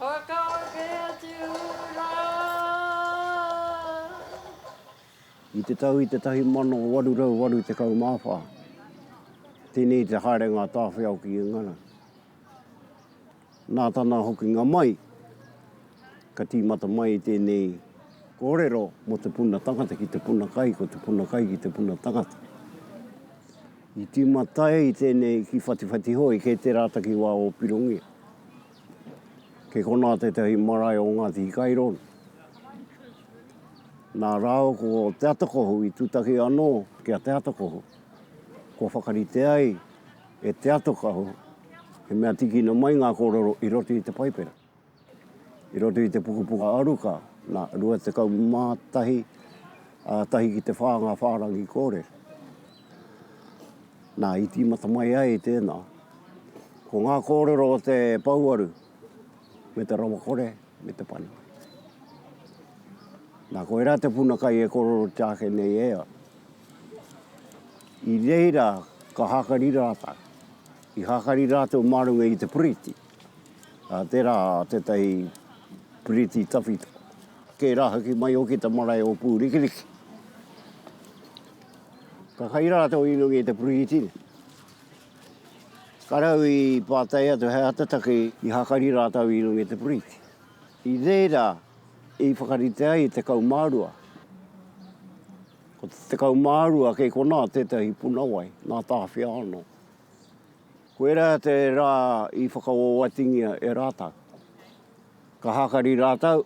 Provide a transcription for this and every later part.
Whakaeke atu rā. I te tau i te tahi mano waru rau waru tekau mā whā, tēnei te haerenga a Tāwhiao ki Ingara. Nā tana hokinga mai, ka tīmata mai tēnei kōrero mō te puna tangata ki te puna kai, ko te puna kai ki te puna tangata. I tīmata ai tēnei ki Whatiwhatihoe, kei tērā takiwā o Pirongia. Kei konā tētahi marae o Ngāti Hikairo, nā rāua ko Te Atakohu i tūtaki anō ki a Te Atakohu. Kua whakarite ai e Te Atakohu he mea tīkina mai ngā kōrero i roto i te Paipera, i roto i te pukapuka aruka, nā, 21, tahi ki te whā ngā whārangi kōrero. Nā, i tīmata mai ai i tēnā, ko ngā kōrero o te pouaru me te rawakore me te pana. Nā, koirā te puna kai e kororotia ake nei e au. I reira ka hākari rātau, i hākari rātou mā runga i te piriti, ā, tērā tētahi piriti tawhito, kē rā hoki mai hoki te marae o Pūrikiriki. Ka kai rātou i runga i te Puritini. Ka rau i pātai atu he aha te take i hakari rātou i runga i te Puriti. I reira i whakarite ai te kaumārua. Ko te kaumārua kei konā tētahi puna wai, nā Tāwhiao anō. Koirā te rā i whakawawatingia e rātau. Ka hākari rātau,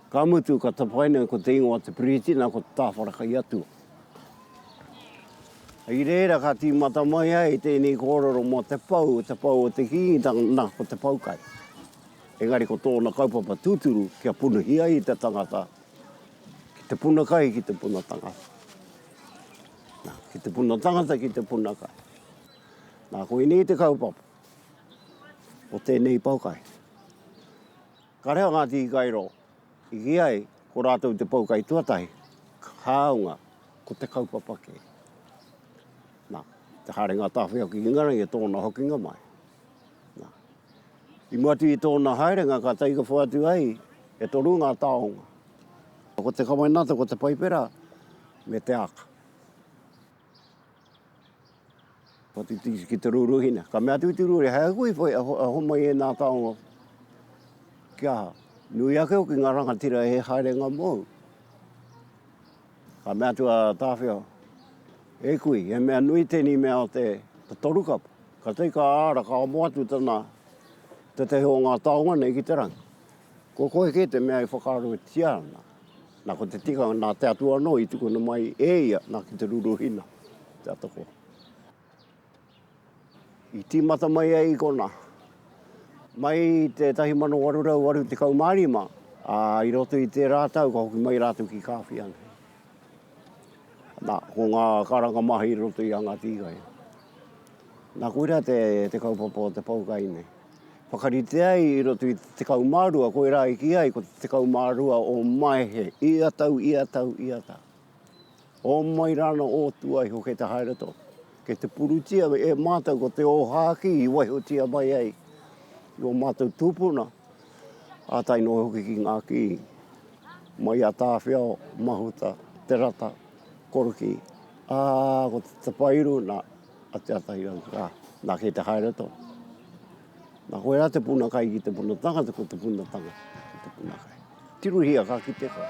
ka mutu ka tapaina ko te ingoa te Piriti nā ko te Tāwhara kei atua. I reira ka tīmata mai ai tēnei kōrero mō te pou, te pou o te Kīngitanga nā ko te pou kai. Engari ko tōna kaupapa tūturu kia punuhi ai te tangata ki te puna kai ki te puna tangata. Nā, ki te puna tangata ki te puna kai. Nā, koinei te kaupapa o tēnei poukai. Ka reha ngā tīkairo i kī ai ko rātou te poukai tuatahi, hāunga ko te kaupapa kē. Nā, te haerenga tāwhiao ki Ingarangi e tōna hokinga mai. Nā, i mua atu i tōna haerenga ka taikapo atu ai e toru ngā taonga. Ko te kawenata, ko te paipera me te aka. Ka titiki ki te rūruhina. Ka mea atu ki te rūruhina, hei aku i whai, a homai e nā taonga ki aha. Nui ake hoki ngā rangatira e haerenga mōu. Ka mea atu a Tāwhiao, e kui, he mea nui tēnei mea o te toru kapa. Ka tei ka āra, ka amo atu tana, tētahi o ngā taonga nei ki te rangi. Ko koe kē te mea e whakaarotia ana. Na ko te tikanga na te Atua ano i tukuna mai e ia na ki te ruruhina te atakoa. I timata mai ai i kona, mai i te 1885, a i roto i tera tau ka hoki mai ratou ki Kawhia nei. Na, ko nga karanga maha i roto i a Ngati Iga ia. Na, koira te kaupapa o te poukai nei. Whakarite ai i roto i te tekau mā rua, koirā i kī ai ko te tekau mā rua o Maehe, ia tau, ia tau, ia tau. O mai rāna o tua iho kei te haere tō, kei te purutia e mātou ko te ōhākī i waihotia mai ai i o mātou tūpuna, ā tae noa hoki ki ngā kī mai a Tāwhiao, Mahuta, Te Rata, Korokī, ā, ko te tapairu, nā. a Te Atairau, ā, nā, kei te haere atu au. Nā, koe rā te puna kai ki te puna tangata, ko te puna tangata ki te puna kai. Tirohia ka kite koe.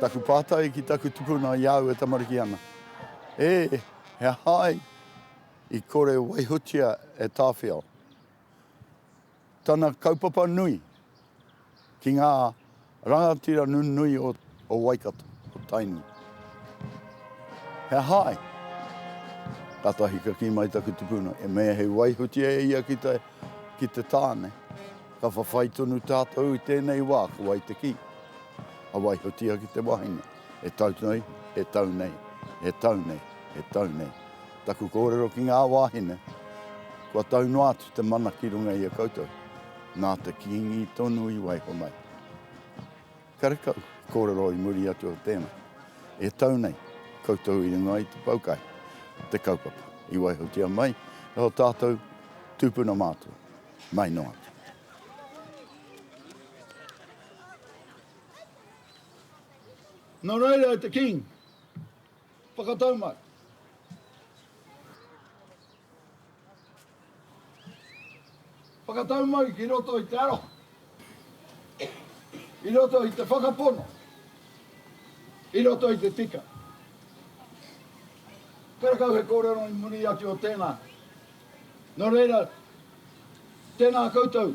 Taku pātai ki taku tupuna i au e tamariki ana, E, he aha ai i kore waihotia e Tāwhiao? tana kaupapa nui ki ngā rangatira nunui o Waikato, o Tainui. He aha ai? Tata hika ki mai taku tupuna, e mea hei waihutia e ia ki te, ki te tāne. Ka whawhai tonu tātou i tēnei wā, ko wai te ki? A waihutia ki te wahine. E tau nei, e tau nei, e tau nei, e tau nei. Taku kōrero ki ngā wāhine, kua tau noa atu te mana ki runga i a koutou, nā te Kīngi tonu i waiho mai. Karekau, kōrero i muri atu o tēnā. E tau nei, koutou i runga i te poukai, te kaupapa, i waihotia mai e o tātou tūpuna mātua, mai noa atu. Nō reira e te King, whakatau mai. Whakatau mai ki roto i te aroha, i roto i te whakapono, i roto i te tika. Karakau he kōrero i muri atu o tēnā. Nō reira, tēnā koutou.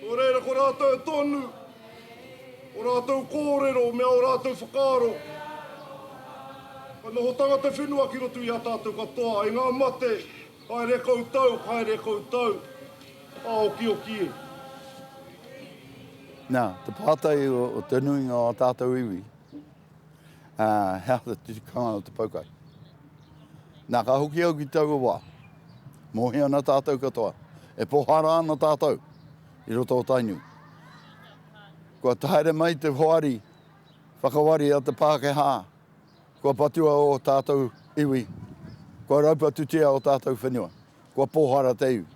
Nō reira ko rātou tonu o rātou kōrero me ō rātou whakaaro. Ka nohotanga te whenua ki roto i a tātou katoa, i ngā mate, haere koutou, haere koutou, ā-okioki e. Nā, te pātai o te nuinga o ā tātou iwi. Uh, he aha te tikanga o te paukai. Nā, ka hoki au ki taua wā. Mōhi ana tātou katoa. E pohara ana tātou i roto o Tainui. Kua taere mai te hoari whakawari a te Pākehā. Kua patua o tātou iwi. Kua raupatutia o tātou whenua. Kua pohara te iwi.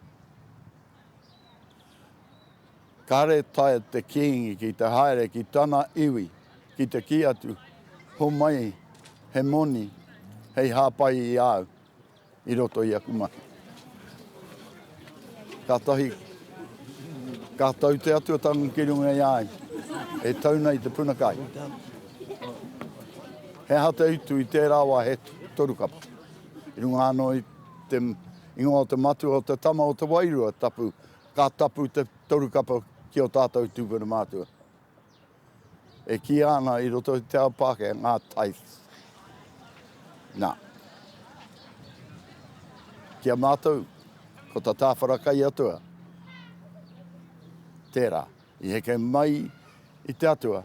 Kāre taea te kīngi ki te haere ki tana iwi ki te kī atu, Homai he moni hei hāpai i a au i roto i aku mahi. Kātahi ka tau te atuatanga ki runga i a au, e tau nei te puna kai. He aha te utu i tērā wā he toru kapa? I runga anō i te ingoa o te matua o te tama o te wairua tapu Ka tapu te toru kapa ki ō tātou tūpuna mātua. E kīia ana i roto i te ao Pākehā ngā tithes. Nā, ki a mātou, ko tā Tāwhara Kaiatua, tērā, i heke mai i te Atua,